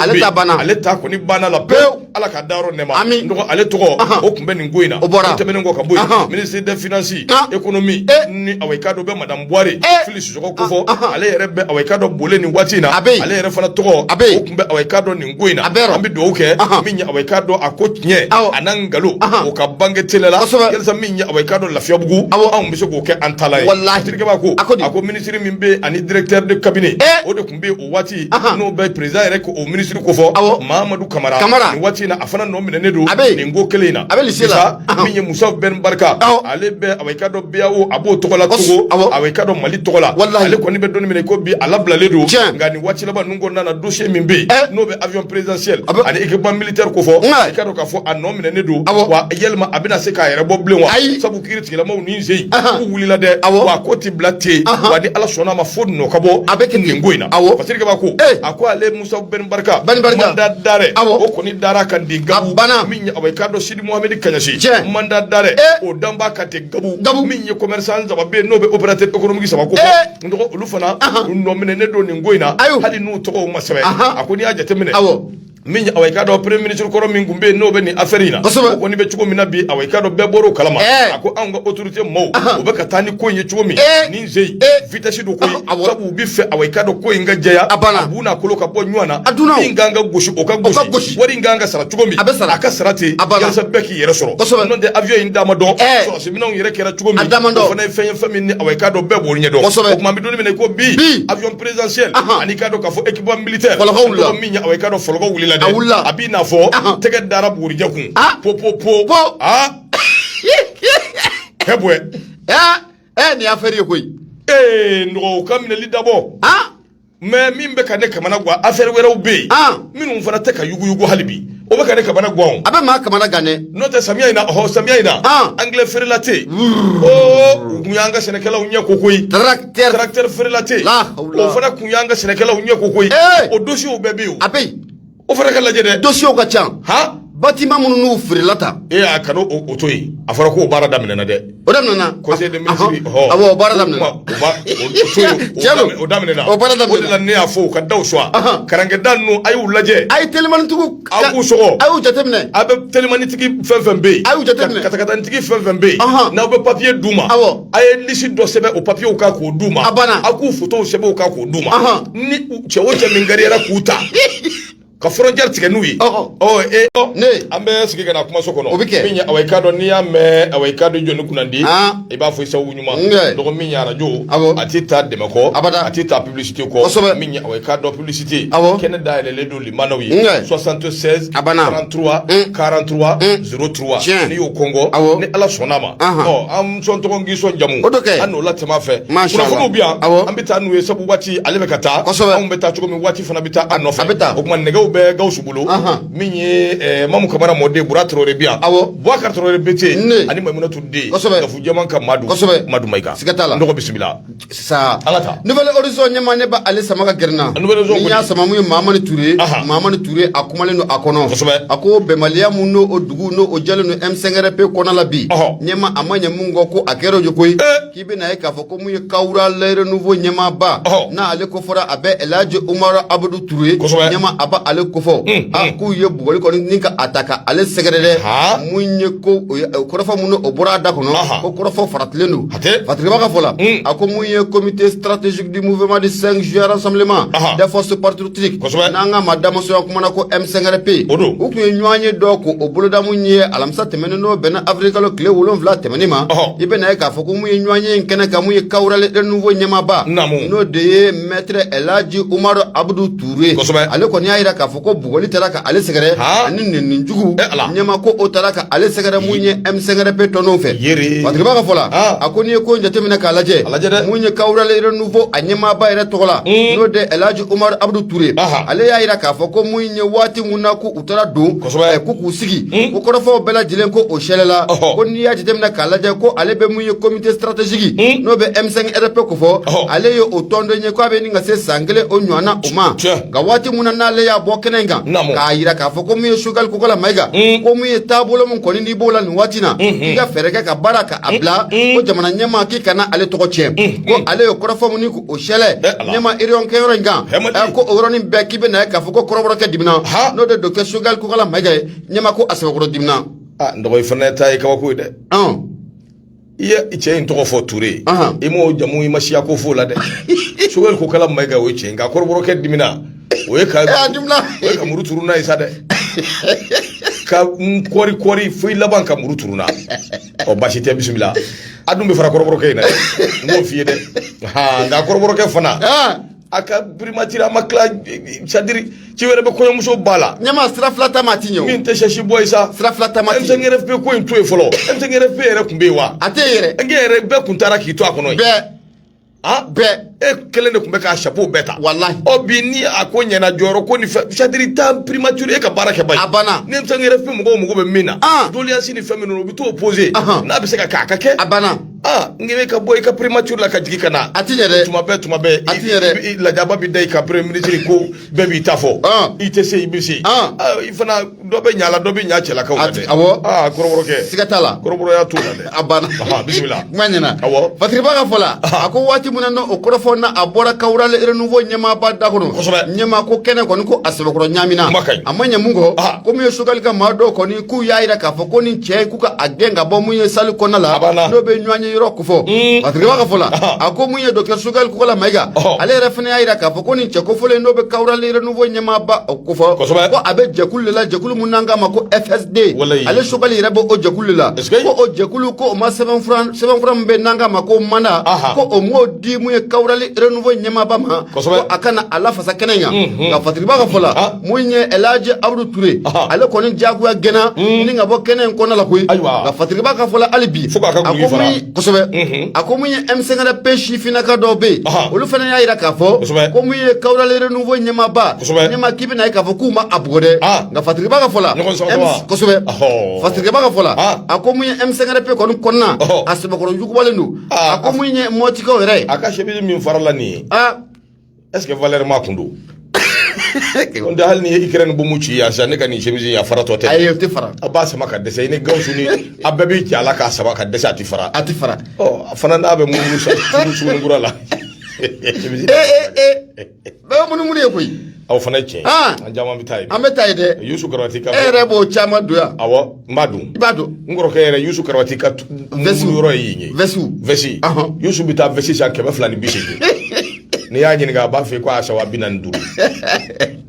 ale ta kɔni banna la pewu ala ka dayɔrɔ nɛɛma nɔgɔ ale tɔgɔ o tun bɛ nin ko in na o tɛmɛnen kɔ ka bɔ yen ministre des finances économie ni a i k'a dɔn bɛ madame buware fili sisoko ko fɔ ale yɛrɛ bɛ a i k'a dɔn bole nin waati in na ale yɛrɛ fana tɔgɔ o tun bɛ a i k'a dɔn nin ko in na an bɛ dugawu kɛ min ye a i k'a dɔn a ko tiɲɛ a n'a nkalon o ka bange teliya la yalisa min ye a i k'a dɔn lafiya bugun anw bɛ se k'o kɛ an ta la ye terikɛ b'a ko a ko ministre min bɛ ani directeur de cabinet o de n bɛ o waati n'o bɛ président yɛrɛ ka o ministre ko fɔ mahamadu kamara nin waati in na a fana nɔ minɛnen don nin ko kelen in na a bɛ min ye musafa bɛn barika ale bɛ a i k'a dɔn bao a b'o tɔgɔ la togo a i k'a dɔn mali tɔgɔ la ale kɔni bɛ don min na i ko bi a labilalen don nka nin waati laban ninnu kɔnɔna na dossier min bɛ yen n'o bɛ avion présidentiel ani équipement militaire ko fɔ i k'a dɔn k'a fɔ a nɔ minɛnen don wa yalima a bɛna se k'a yɛrɛ bɔ bilen wa kiri tigilamaw nin sen k'u wulila dɛ wa ko ti bila ten wa ni ala sɔnna a ma fo nɔ ka bɔ a bɛ nin ko in na fasirike b'a ko a ko ale musa bɛn barika mandat d'arrêt o kɔni dara a kan ten gabu min ye a i k'a dɔn sidi muhammed kaɲasi mandat d'arrêt o dan b'a kan ten gabu min ye commerçant saba bɛ n'o bɛ opérateur économique saba ko n dɔgɔ olu fana u nɔ minɛnen don nin ko in na hali n'u tɔgɔw ma sɛbɛn a ko n'i y'a jateminɛ min ye a i k'a dɔn premier ministre kɔrɔ min tun bɛ yen n'o bɛ nin affaire in na o kɔni bɛ cogo min na bi a i k'a dɔn bɛɛ bɔr'o kalama a ko anw ka autorité maaw u bɛ ka taa ni ko in ye cogo min nin sen vitesse don koyi u b'a fɛ a i k'a dɔn ko in ka jɛya a bu n'a kolo ka bɔ ɲɔgɔn na min ka kan ka gosi o ka gosi wari in ka kan ka sara cogo min a ka sara ten a bɛɛ k'i yɛrɛ sɔrɔ n'o tɛ avion in da ma dɔn sɔrɔdasi minɛnw yɛrɛ kɛra cogo min o fana ye fɛn ye fɛn min a i k'a dɔn bɛɛ b'o ɲɛ dɔn o tuma an bɛ don min na ko bi avion présidentiel ani i k'a dɔn k'a fɔ e militaire nɔgɔ min ye a i k'a dɔn fɔlɔkɔ wulila dɛ a wulila a b'i n'a fɔ tɛgɛ dara bugurijɛ kun po po po po aa hɛ bɔɛ ɛ nin ye affaire ye koyi ee nɔgɔw ka minɛli dabɔ mais min bɛ ka ne kamana gan affaire wɛrɛw bɛ yen minnu fana tɛ ka yuguyugu hali bi o bɛ ka ne kamana gan o. a bɛ maa kamana gan dɛ. n'o tɛ samiya in na ɔhɔ samiya in na. engrais frelaté. oo o kun y'an ka sɛnɛkɛlaw ɲɛ koko ye. tarakitɛri tarakitɛri frelaté. o fana kun y'an ka sɛnɛkɛlaw ɲɛ koko ye. o dosiyew bɛɛ bɛ yen o. a bɛ yen. o fana ka lajɛ dɛ. dosiyew ka ca. han. batiman minnu n'u feerela ta. e a kana o to yen a fɔra k'o baara daminɛna dɛ. o daminɛna conseil de ministre hɔ awɔ o baara daminɛ o ba o daminɛna o baara daminɛna o de la ne y'a fɔ u ka daw suwa karankɛda ninnu a y'u lajɛ a ye telimanitigiw a k'u sɔgɔ a y'u jateminɛ a bɛ telimanitigi fɛn fɛn bɛ yen a y'u jateminɛ katakatanitigi fɛn fɛn bɛ yen n'aw bɛ papiye d'u ma awɔ a ye lisi dɔ sɛbɛn o papiyew kan k'o d'u ma a banna a k'u fotow sɛbɛn o kan k'o d'u ma ni cɛ o cɛ min gariyara k'u ta ka frontière tigɛ n'u ye ɔ e ne an bɛ sigi ka na kumaso kɔnɔ o bɛ kɛ min ye awa i k'a dɔn n'i y'a mɛn awa i k'a dɔn jɔni kunnandi i b'a fɔ i sababu ɲuman dɔgɔ min ye arajo a tɛ taa dɛmɛ kɔ abada a tɛ taa publicité kɔ kosɛbɛ min ye awa i k'a dɔn publicité awɔ kɛnɛ dayɛlɛlen don limanaw ye 76 a banna 33 43 03 n'i y'o kɔngɔni ala sɔnna a ma an sɔn tɔgɔ k'i sɔn jamu o kɛ an n'o latɛmɛ fɛ kunnafoniw bɛ yan an bɛ taa n'u ye sabu waati ale bɛ ka taa anw bɛ taa cogo min waati fana bɛ taa a nɔfɛ a bɛ taa o tuma nɛgɛw bɛ gawusu bolo min ye mamu kamara mɔden bura traoré bi yan boubacar traoré bete ani maimunatu den gafu jɛman ka madu madu mayiga siga t'a la n dɔgɔ bisimila sa an ka taa nouvelle horizon ɲɛma ne ba ale sama ka gɛrɛ n na Nouvelle Horizon ni y'a kɔni. sama mun ye mamani ture Aha. mamani ture a kumalen don a kɔnɔ Kosɛbɛ. a ko bɛnbaliya mun n'o o dugu n'o o jɛlen don m5rp kɔnɔ la bi Ɔhɔ. ɲɛma a ma ɲɛ mun kɔ ko a kɛra o ye koyi Eh. k'i bɛna ye k'a fɔ ko mun ye kawural renouveau ɲɛmaaba Ɔhɔ. n'ale ko fɔra a bɛ elhaji umaru abudu ture Kosɛbɛ. ɲɛma a ba ale kofɔ Mm, a mm. k'u ye bugɔli kɔni ni ka a ta ka ale sɛgɛrɛ dɛ Ha. mun ye ko o ye- o kɔrɔfɔ mun n'o o bɔra a da kɔnɔ Aha. ko kɔrɔfɔ faratilen don A tɛ fatigiba ka fɔ la a ko mun ye comité stratégique du mouvement du 5 juin rassemblement des forces patriotiques kosɛbɛ n'an ka ma damasoya kuma na ko m5rp yen o don u tun ye ɲɔgɔnye dɔ ko o boloda mun ye alamisa tɛmɛnen n'o bɛnna avril kalo tile wolon wolonwula tɛmɛnen ma i bɛna ye k'a fɔ ko mun ye ɲɔgɔnye in kɛnɛ kan mun ye kawural renouveau ɲɛmaaba n'o de ye maître elhaji umaru abudu ture ale kɔni y'a jira k'a fɔ O ko bugɔli taara ka ale sɛgɛrɛ ani nɛni jugu ɲɛma ko o taara ka ale sɛgɛrɛ mun ye m5rp tɔndenw fɛ fatigiba ka fɔ la a ko n'i ye ko jateminɛ k'a lajɛ mun ye kawural renouveau a ɲɛmaaba yɛrɛ tɔgɔ la n'o de elhaji umaru abudu ture ale y'a jira k'a fɔ ko mun ye waati mun na ko u taara don ko k'u sigi ko kɔrɔfɔw bɛɛ lajɛlen ko o sɛɛlɛla ko n'i y'a jateminɛ k'a lajɛ ko ale bɛ mun ye comité stratégique n'o bɛ m5rp ko fɔ ale ye o tɔnden ye k' a bɛ ɲini ka se san kelen o ɲɔgɔn na o ma nka waati mun na n'ale y'a bɔ kɛnɛ in kan k'a jira k'a fɔ ko mun ye choguel kokala mayiga mm. ko mun ye taabolo mun kɔni n'i b'o la nin waati na mm-hmm. i ka fɛɛrɛ kɛ ka baara ka a bila mm-hmm. ko jamana ɲɛmaa k'i kana ale tɔgɔ tiɲɛ mm-hmm. ko ale ye kɔrɔfɔ mun ni o sɛlɛ ɲɛma réunion kɛyɔrɔ in kan eh, ko o yɔrɔnin bɛɛ k'i bɛ na ye k'a fɔ ko kɔrɔbɔrɔkɛ dimina n'o de docteur choguel kokala mayiga ye ɲɛma ko a sɛbɛkɔrɔ dimina ah, n dɔgɔ i fana ta ye kabako ye dɛ i ye cɛ in tɔgɔ fɔ ture i m'o jamu i ma siya ko f'o la dɛ choguel kokala mayiga o ye cɛ in nka kɔrɔbɔrɔkɛ dimina o ye ka o ye ka muru turu n'a ye sa dɛ ka n kɔri kɔri fo i laban ka muru turu n na ɔ basi tɛ bisimila a dun bɛ fara kɔrɔbɔrɔkɛ in na dɛ n b'o f'i ye dɛ nka kɔrɔbɔrɔkɛ fana a ka primature a ma tila c'est-à-dire ci wɛrɛ bɛ kɔɲɔmuso ba la ɲɛmaa sira fila taama ti ɲɛ min tɛ sɛsi bɔ ye sa sira fila taama ti ɲɛ M5RFP ko in to yen fɔlɔ M5RFP yɛrɛ tun bɛ yen wa a tɛ yen yɛrɛ nge yɛrɛ bɛɛ tun taara k'i to a kɔnɔ yen bɛɛ ah bɛɛ e kelen de tun bɛ k'a chapeau bɛɛ ta walahi ɔ bi ni a ko ɲɛna jɔyɔrɔ ko ni fɛn c'est-à-dire ta primature e ka baara kɛ ba ye a banna ni M5RFP mɔgɔw mago bɛ min na Ah. doléance ni fɛn minnu u bɛ t'o poser Ahan. n'a bɛ se ka kɛ a ka kɛ a banna ah n k'i bɛ ka bɔ i ka primature la ka jigin ka na a ti ɲɛ dɛ tuma bɛɛ tuma bɛɛ a ti ɲɛ dɛ i lajaba bɛ da i ka premier ministre ko bɛɛ b'i ta fɔ i tɛ se i bɛ se i fana dɔ bɛ ɲa la dɔ bɛ ɲa cɛlakaw la dɛ awɔ aa kɔrɔbɔrɔkɛ siga t'a la kɔrɔbɔrɔya t'o la dɛ a banna bisimila kuma ɲɛna awɔ fatiriba ka fɔ la a ko waati min na o kɔrɔfɔ na a bɔra kawurali renouveau ɲɛmaaba da kɔnɔ kosɛbɛ ɲɛmaa ko kɛnɛ kɔni ko a sɛbɛkɔrɔ ɲaamina a ma ɲɛ mun kɔ ko mun ye Choguel ka maa dɔw kɔni k'u y'a jira k'a fɔ ko nin cɛ k'u ka a gɛn ka bɔ mun ye salle kɔnɔna la n'o bɛ ɲɔgɔnye yɔrɔ kofɔ mm. fatiriba ka fɔ la a ko mun ye dɔkitɛri Choguel kokala mayiga ale yɛrɛ fana y'a jira k'a fɔ ko nin cɛ kofɔlen n'o bɛ kawurali renouveau ɲɛmaaba kofɔ ko a bɛ jɛkulu de la jɛkulu mun n'an k'a ma ko FSD ale Choguel yɛrɛ bɛ o jɛkulu de la ko o jɛkulu ko o ma sɛbɛnfura sɛbɛnfura min bɛ n'an k'a ma ko mandat ko o m'o di mun ye kawurali renouveau ɲɛmaaba ma ko a ka na a lafasa kɛnɛ in kan nka fatiriba ka fɔ la mun ye Elhaji Abudu Ture ale kɔni diyagoya gɛnna hmm. ni ka bɔ kɛnɛ in kɔnɔna la koyi nka Fatiriba ka fɔ la hali bi a ko min kosɛbɛ hmm. a ko mun ye M5RP sifinnaka dɔw bɛ yen olu fana y'a jira k'a fɔ ko mun ye Kawurali Renouveau ɲɛmaaba ɲɛmaa k'i bɛn'a ye k'a fɔ k'u ma a bugɔ dɛ nka Fatiriba ka fɔ la kosɛbɛ Fatiriba ka fɔ la a ko mun ye M5RP kɔni kɔnɔna a sɛbɛkɔrɔ jugubalen don a ko mun ye Mɔtikaw yɛrɛ ye a ka chemise min farala nin ye est ce que valeur ma kun don ko da hali n'i ye Ukraine bɔmu ci yan sa ne ka nin chemise in a faratɔ tɛ ayi o tɛ fara a b'a sama ka dɛsɛ i ni gawusu ni a bɛɛ bɛ jɛ a la k'a sama ka dɛsɛ a ti fara a tɛ fara ɔ a fana n'a bɛ munumunu sa Sugunikura la chemise ee ee ee bɛɛ bɛ munumunu ye koyi aw fana ye tiɲɛ ye Ah. an caman bɛ taa yen an bɛ taa yen dɛ yusu karabati e ka yɛrɛ b'o caman don yan awɔ n b'a don i b'a dɔn n kɔrɔkɛ yɛrɛ yusu karabati ka tu- Vɛsiw. mulu yɔrɔ ye yen ye Vɛsiw. vɛsi Ahɔn. yusu bɛ taa vɛsi san kɛmɛ fila ni bi seegin n'i y'a ɲininka a b'a fɔ i ko a san waa bi naani ni duuru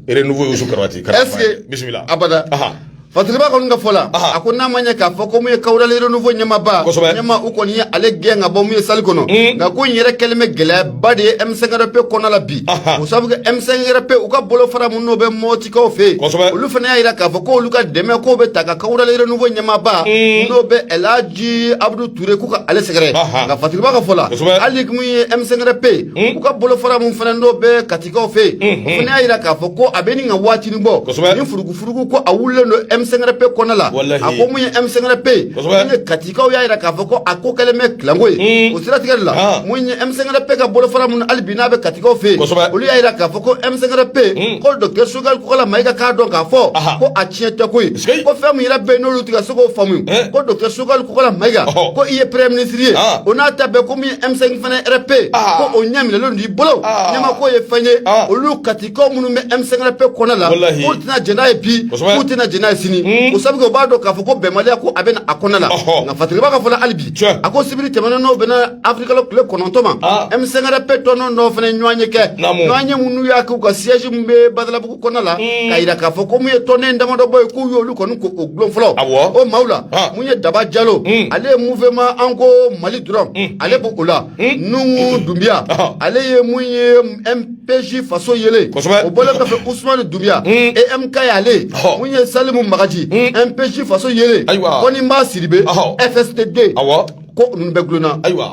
renouveau yusu karabati est ce que bisimila abada Aha. fatiriba kɔni ka fɔ la Aha. a ko n'a ma ɲɛ k'a fɔ ko mun ye kawurali renouveau ɲɛmaaba Kosɛbɛ. ɲɛmaa u kɔni ye ale gɛn ka bɔ mun ye salle kɔnɔ Mm. nka ko in yɛrɛ kɛlen bɛ gɛlɛyaba de ye M5RP kɔnɔ la bi Aha. o sabu kɛ M5RP u ka bolofara min n'o bɛ mɔti kaw fɛ yen, kosɛbɛ, olu fana y'a jira k'a fɔ k'olu ka dɛmɛ k'o bɛ taa ka Kawurali Renouveau ɲɛmaaba n'o bɛ El Hadji Abudu Ture k'u ka ale sɛgɛrɛ Aha. nka Fatiriba ka fɔ la Kosɛbɛ. hali mun ye M5RP u ka bolofara min fana n'o bɛ Katikaw fɛ yen, o fana y'a jira k'a fɔ ko a bɛ nin ka waatinin bɔ Kosɛbɛ. ni furugufurugu ko a wulilen don M5RP kɔnɔna la Walahi. a ko mun ye M5RP Kosɛbɛ. min ye Kati Tikaw y'a jira k'a fɔ ko a ko kɛlen bɛ clan ko ye o siratigɛ de la mun ye M5 RFP ka bolofara minnu hali bi n'a bɛ katikaw fɛ yen olu y'a jira k'a fɔ ko M5 RFP ko docteur Sogɛli Kokala Mayiga k'a dɔn k'a fɔ ko a tiɲɛ tɛ ko ye ko fɛn min yɛrɛ bɛ yen n'olu tɛ ka se k'o faamu ko docteur Sogɛli Kokala Mayiga ko i ye premier ministre ye o n'a ta bɛɛ ko min ye M5 RFP ko o ɲɛ minɛlen don i bolo ɲɛmako ye fɛn ye olu kati Ko minnu bɛ M5 RFP kɔnɔna la k'u tɛna jɛn n'a ye bi k'u tɛna jɛn n'a ye sini o sabu k'u b'a dɔn k'a fɔ ko bɛnbaliya ko a bɛ a kɔnɔna la nka fatigiba ka fɔ la hali bi a ko sibiri tɛmɛnen n'o bɛnna avril kalo tile kɔnɔntɔn ma M5 RFP tɔn dɔ fana ɲɔgɔnye kɛ ɲɔgɔnye minnu y'a kɛ u ka siège min bɛ badalabugu kɔnɔna la ka jira k'a fɔ ko mun ye tɔnden damadɔ bɔ ye k'u y'olu kɔni ko o gulon fɔlɔ o maaw la mun ye daba jalo ale ye mouvement an ko mali dɔrɔn ale b' u la nuhun dunbiya ale ye mun ye peji faso yelen o bɔlen kɔfɛ usumani dunbiya emk y'ale mun ye salimu magaji mpj faso yelen konimba sidibe fsd ko ninnu bɛɛ gulonna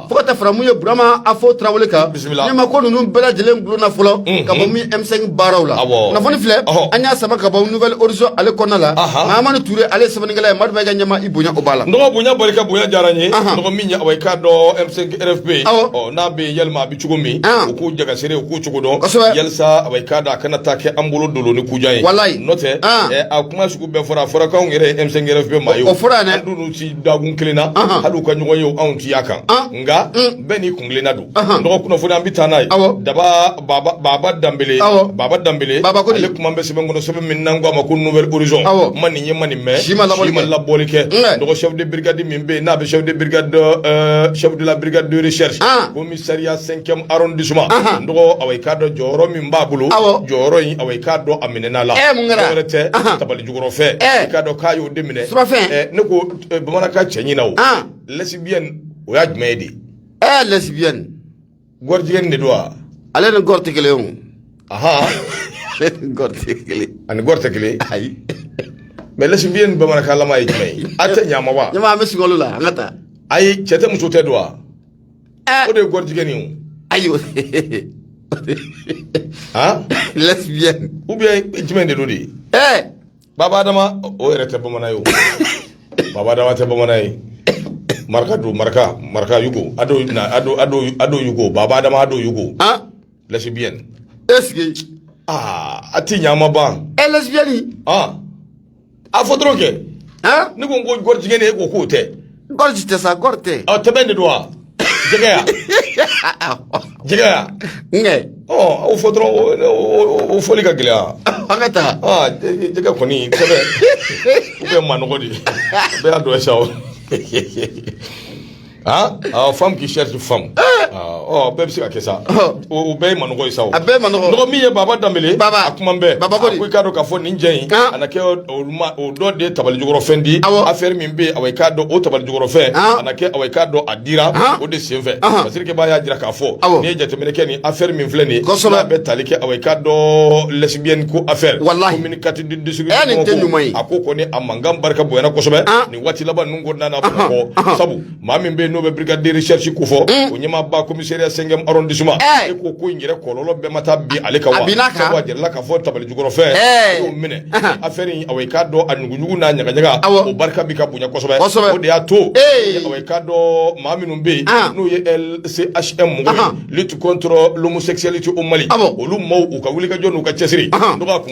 fo ka taa fara mun ye burama afo tarawele kan ɲɛma ko ninnu bɛɛ lajɛlen gulonna fɔlɔ ka bɔ min m5 baaraw la kunnafoni filɛ an y'a sama ka bɔ nouvelle horizon ale kɔnɔna la mahamani ture ale ye sɛbɛnnikɛla ye madu bɛ ka ɲɛma i bonya o b'a la n dɔgɔ bonya barika bonya diyara n ye n dɔgɔ min ye awa i k'a dɔn m5 rfp n'a bɛ yɛlɛma cogo min u k'u jagasere u k'u cogo dɔn yalasa a k'a da a kana taa kɛ an bolo dolo ni kujan ye walayi n'o tɛ a kuma sugu bɛɛ fɔra a fɔra k'anw yɛrɛ M5 RFP maa ye o fɔra an dun t'u si dakun kelen na hali u ka ɲɔgɔn ye anw ti y'a kan nka bɛɛ n'i kun kelenna don n dɔgɔ kunnafoni an bɛ taa n'a ye daba baba danbele baba danbele ale kuma bɛ sɛbɛn kɔnɔ sɛbɛn min n'an k'a ma ko nouvelle horizon ma nin ye ma nin mɛn si ma labɔli kɛ n dɔgɔ chef de brigade min bɛ yen n'a bɛ chef de brigade chef de la brigade de recherche Commissariat cinquième arrondissement n dɔgɔ a k'a dɔn jɔyɔrɔ min b'a bolo jɔyɔrɔ in a k'a dɔn a minɛ la wɛrɛ tɛ tabali jukɔrɔ fɛ k'a dɔn k'a y'o de minɛ ne ko bamanankan cɛɲi na o lesbienne o ye jumɛn ye de ɛ lesbienne gɔrijigɛn de don wa ale ni gɔri tɛ kelen ɔn ani gɔri tɛ kelen ayi mais lesbienne bamanankanlama ye jumɛn ye a tɛ ɲamaba ɲa bɛ skalo la an ka taa ayi cɛ tɛ muso tɛ don wa Ah. o de ye gɔrijigɛn ye o. ayiwa han lesbienne ou bien jumɛn de don de. ɛɛ baba adama o yɛrɛ tɛ bamanan ye o baba adama tɛ bamanan ye maraka don maraka maraka yugo ado na ado ado ado yugo baba adama ado yugo han lesbienne est ce que aa a ti ɲɛ a ma ban ɛɛ lesbienne han a fɔ dɔrɔn kɛ ne ko n ko gɔrijigɛ de e ko k'o tɛ gɔriji tɛ sa gɔri tɛ ɔ tɛbɛn de don wa jɛgɛ ya jɛgɛ ya nkɛ ɔ o fɔ dɔrɔn o fɔli ka gɛlɛya an ka taa aa jɛgɛ kɔni tɛbɛn u bɛ manɔgɔ de bɛɛ y'a dɔn sa o Ah, ah, femme qui cherche femme. Eh! Ah, oh, bɛɛ bɛ se ka kɛ sa. Oh. O bɛɛ ye manɔgɔ ye sa o. A bɛɛ manɔgɔ. N dɔgɔ min ye Baba Danbele. Baba. A kuma bɛɛ. Baba ko de. A ko i k'a dɔn k'a fɔ nin jɛ in. Ah. A na kɛ o ma o dɔ de ye tabali jukɔrɔ fɛn di. Awɔ. Affaire min bɛ yen awa i k'a dɔn o tabali jukɔrɔ fɛn. Ah. A na kɛ awa i k'a dɔn a dira. Ah. O de sen fɛ. Ah. Parce que Baba y'a jira k'a fɔ. Awɔ. N'i ye jateminɛ kɛ nin affaire min filɛ nin ye. Kosɛbɛ. N'a bɛ tali kɛ awa i k'a dɔn lesbienne ko affaire. Walahi. Commune quatre du district. Ɛ nin tɛ ɲuman ye. A ko kɔni a mankan barika bonyana kosɛbɛ. Ah. waati laban ninnu kɔnɔna na Bamakɔ sabu maa min bɛ yen n'o bɛ brigade de recherche ko fɔ mm. o ɲɛmaaba commissariat cinquième arrondissement eh. e ko ko in yɛrɛ kɔlɔlɔ bɛɛ ma taa bin ale kan wa a binna a kan sabu a jirala k'a fɔ tabali jukɔrɔfɛn e eh. y'o minɛ affaire in awa i k'a dɔn a ɲuguɲugu n'a ɲagaɲaga o barika bi ka bonya kosɛbɛ o de y'a to eh. awa i k'a dɔn maa minnu bɛ yen ah. n'o ye LCHM mɔgɔ ye lutte contre l'homosexualité au Mali olu maaw u ka wulikajɔ n'u ka cɛsiri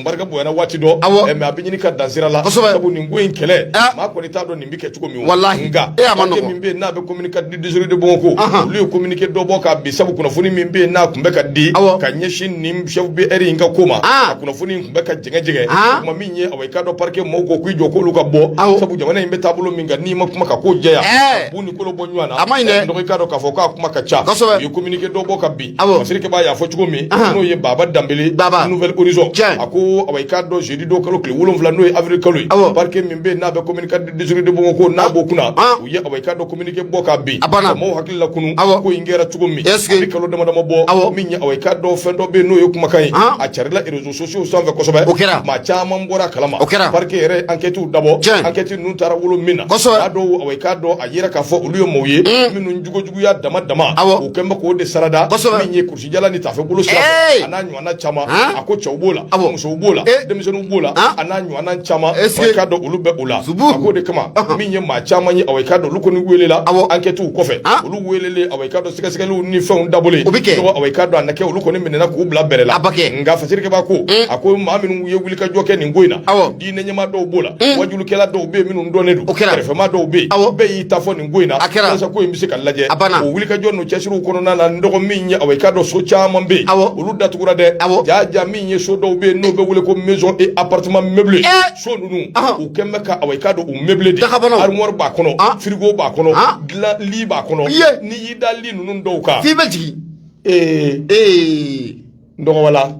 barika bonyana waati dɔ awɔ mais a bɛ ɲini ka dan sira la kosɛbɛ sabu nin ko in kɛlɛ ah. maa kɔni t'a dɔn nin bɛ kɛ cogo min walahi nka e a ma nɔgɔ min bɛ yen n'a bɛ commune quatre du district de Bamakɔ olu ye communiqué dɔ bɔ ka bin sabu kunnafoni min bɛ yen n'a tun bɛ ka di awɔ ka ɲɛsin nin chef BR in ka ko ma ah. a kunnafoni in tun bɛ ka jɛngɛ jɛngɛ ah. kuma min ye awa i k'a dɔn parquet mɔgɔw ko k'i jɔ k'olu ka bɔ sabu jamana in bɛ taabolo min kan n'i ma kuma ka ko jɛya eh. bu ni kolo bɔ ɲɔgɔn na a man ɲi dɛ donc i k'a dɔn k'a fɔ k'a kuma ka ca kosɛbɛ u ye communiqué dɔ bɔ ka bin awɔ fasirikɛbaa y'a fɔ cogo min n'o ye baba danbele baba nouvel horizon a ko awa i k'a dɔn jeudi don kalo tile wolonwula n'o ye avril kalo ye awɔ parquet min bɛ n'a bɛ commune quatre district de bamakɔ n'a ah. b'o kunna ah. u ye awa i k'a dɔn communiqué bɔ ka bin a banna mɔgɔw hakili lakunun awɔ ko in kɛra cogo min est ce que a bɛ kalo dama dama bɔ awɔ min ye awa i k'a dɔn fɛn dɔ bɛ yen n'o ye kumakan ye ah. a carila réseaux sociaux sanfɛ kosɛbɛ o kɛra maa caman bɔra a kalama o kɛra parquet yɛrɛ enquête dabɔ enquête ninnu taara wolo min na kosɛbɛ a dɔw awa i k'a dɔn a yera k'a fɔ olu ye mɔgɔw ye hmm. minnu jogo ya dama dama o kɛlen bɛ k'o de sarada min ye kulusijala ni taafe bolo sira a n'a ɲɔgɔnna caman a ko cɛw b'o la musow b'o la denmisɛnninw b'o la a n'a ɲɔgɔnna caman awa i k'a dɔn olu bɛ o la a k'o de kama min ye maa caman ye awa i k'a dɔn olu kɔni welela enquête kɔfɛ olu welelen awa i k'a dɔn sɛgɛsɛgɛliw ni fɛnw dabɔlen o bɛ kɛ awa i k'a dɔn a na kɛ olu kɔni minɛna k'u bila BR la nka fasirikɛba ko a ko maa minnu ye wulikajɔ kɛ nin ko in na diinɛ ɲɛmaa dɔw b'o la wajulikɛla dɔw bɛ yen minnu dɔnnen don kɛrɛfɛmaa dɔw bɛ yen bɛɛ y'i ta fɔ ko in na walasa ko in bɛ se ka lajɔ a banna o wulikajɔ n'u cɛsiriw kɔnɔna na n dɔgɔ min ye awa i k'a dɔn so caman bɛ yen awɔ olu datugura dɛ awɔ jaa jaa min ye so dɔw bɛ yen n'o bɛ wele ko maison et appartement meublé so ninnu u kɛn bɛ ka awa i k'a dɔn u meublé de dagabanaw armoire b'a kɔnɔ frigo b'a kɔnɔ dilan lit b'a kɔnɔ n'i y'i da lit ninnu dɔw kan f'i bɛ jigin ee ee n dɔgɔ wala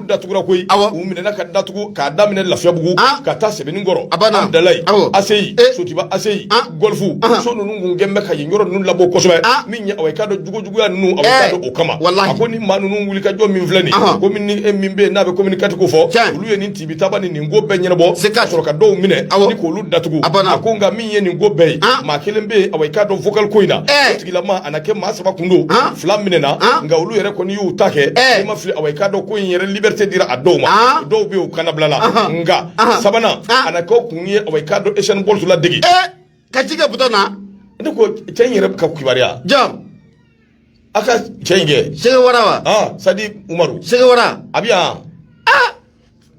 datugura koyi u minɛna ka datugu k'a daminɛ lafiyabugu ka taa sɛbɛninkɔrɔ amdalayi aseyi sotiba aseyi gɔlfu so ninnu gɛn bɛ ka yen yɔrɔ ninnu labɔ kosɛbɛ min ye awa i k'a dɔn jugujuguya ninnu awa i k'a dɔn o kama a ko ni maa ninnu wulikajɔ min filɛ nin ko e min bɛ n'a bɛ commune quatre ko fɔ olu ye nin tibi taba ni nin ko bɛɛ ɲɛnabɔ ka sɔrɔ ka dɔw minɛ ni k'olu datugu a ko nka min ye nin ko bɛɛ ye maa kelen bɛ yen awa i k'a dɔn vocal ko in na o tigilama a na kɛ maa saba kun don fila minɛna nka olu yɛrɛ i y'u ta kɛ eh. i ma fili awa i k'a dɔn ko in yɛrɛ liberté dira a dɔw ma ah. dɔw bɛ yen u kannabilala nka sabanan ah. a na kɛ kun ye awa i k'a dɔn Usain Bolt ladege eh. ka tigɛ butɔn na ne ko cɛ in yɛrɛ ka kibaruya jɔn a ka cɛ in kɛ sɛgɛ wara wa ah, sadi umaru sɛgɛ wara a bɛ yan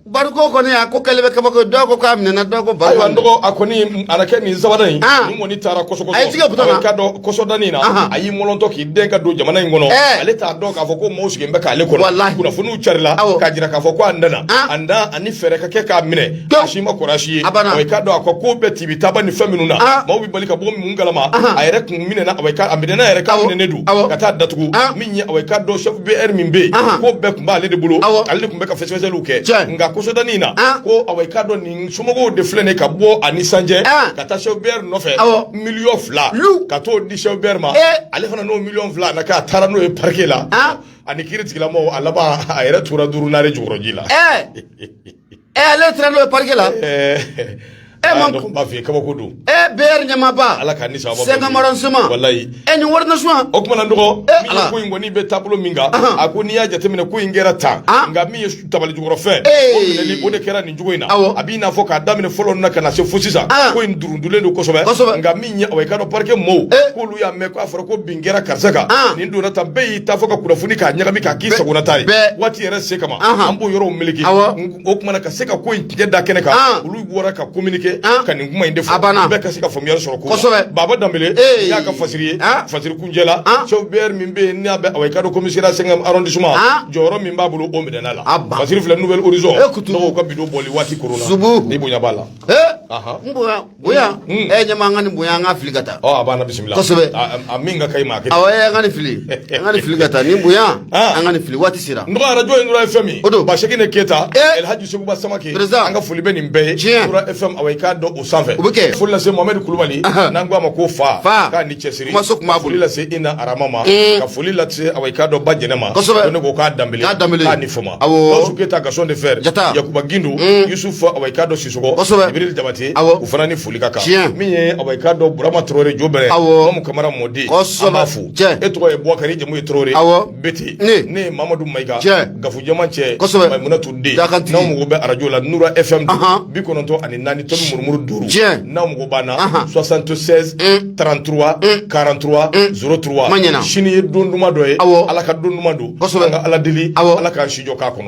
bari ko kɔni a ko kɛlɛ bɛ kabako dɔw ko k'a minɛna dɔw ko bari ayiwa n dɔgɔ a kɔni a na kɛ nin sabanan in ah. nin kɔni taara kɔsɔkɔsɔ a ye tigɛ butɔn na ka dɔn kɔsɔdanin na ah. a y'i mɔlɔntɔ k'i dɛn ka don jamana in kɔnɔ eh. ale t'a dɔn k'a fɔ ko maaw sigilen bɛ k'ale kɔnɔ walahi kunnafoniw carila k'a jira k'a fɔ ko a nana ah. a na ani fɛɛrɛ ka kɛ k'a minɛ a si ma kɔrɔ a si ye awa i k'a dɔn a ko bɛɛ tibi taba ni fɛn minnu na maaw bɛ bali ka bɔ mun kalama a yɛrɛ kun minɛna a minɛna yɛrɛ k'a minɛnen don ka taa datugu awa i k'a dɔn chef BR min bɛ yen ko bɛɛ kun b'ale de bolo ale de kun bɛ ka fɛsɛfɛsɛliw kɛ nka kɔsɔdanin in na ko awa i k'a dɔn nin somɔgɔw de filɛ nin ye ka bɔ a nisɔndiya ka taa chef BR nɔfɛ miliyɔn fila ka t'o di chef BR ma ale fana n'o miliyɔn fila na k'a taara n'o ye parquet la ani kiiri tigilamɔgɔw a laban a yɛrɛ tora duuru nare jukɔrɔji la ɛ ale taara n'o ye parquet la Eh, Eh, ah, man- donc, b'a f'i ye kabako don ɛ BR ɲɛmaaba ala ka ni sababa sɛgɛnmara nsema walayi ɛ nin wari nasuma o kuma na n dɔgɔ Eh, min ye Ala. ko in kɔni bɛ taabolo min kan Ahan. a ko n'i y'a jateminɛ ko in kɛra tan Ah. nka min ye su- tabali jukɔrɔ fɛn Eh. o minɛli o de kɛra nin cogo in na Awɔ. a b'i n'a fɔ k'a daminɛ fɔlɔ na ka na se fo sisan Ah. ko in durundulen don kosɛbɛ Kosɛbɛ. nka min ye awa i k'a dɔn parquet mɔɔw Eh. k'olu y'a mɛn k'a fɔra ko bin n kɛra karisa kan nin donna tan bɛɛ y'i ta fɔ ka kunnafoni k'a ɲagami k'a k'i sagona ta ye waati yɛrɛ se kama an b'o yɔrɔw meleke o kuma na ka se ka ko in tigɛ da kɛnɛ kan olu bɔra ka communiquer ka nin kuma in de fɔ bɛɛ ka se ka faamuyali sɔrɔ ko kosɛbɛ Baba Danbele y'a ka fasiri ye fasiri kuncɛ la chef BR min bɛ yen n'a bɛ awa i k'a dɔn commissariat cinquième arrondissement jɔyɔrɔ min b'a bolo o minɛna la fasiri filɛ Nouvel Horizon mɔgɔw ka bi don bɔli waati koronna i bonya b'a la n bonya bonya ɛ ɲɛma an ka nin bonya an ka fili ka taa ɔ a b'an na bisimila kosɛbɛ a min ka kɛ ma kɛ awɔ an ka nin fili an ka nin fili ka taa nin bonya an ka nin fili waati sera n dɔgɔ arajo in nura fm o don ba sekene keyita elhaji seguba samake an ka foli bɛ nin bɛɛ ye nura fm awa i k'a dɔn o sanfɛ o bɛ kɛ foli lase mohamɛdi kulubali n'an ko a ma ko fa fa k'a ni cɛsiri kumaso kuma foli lase ina arama ma ka foli lase awa i k'a dɔn ba jɛnɛ ma kosɛbɛ ne ko k'a danbele k'a danbele k'a ni fama awɔ gawusu keyita gasɔn de fɛ jata yakuba gindo yusufu awa i k'a dɔn jabate u fana ni foli ka kan min ye ka dɔn burama tarawele jobɛrɛ mamu kamara mɔden b'a fo e tɔgɔ ye bukari jamu ye tarawele bɛtɛ ne ye mamadu mayiga gafu jama cɛ mayimunatu den n'aw mago bɛ arajo la nura ɛfɛmu bi kɔnɔntɔn ani naani tomi murumuru duuru n'aw mago b'an na soixante-seize trente-trois quarante-trois zéro trois sini ye don duman dɔ ye ala ka don duman don k'ala deli ala k'an si jɔ k'a kɔnɔ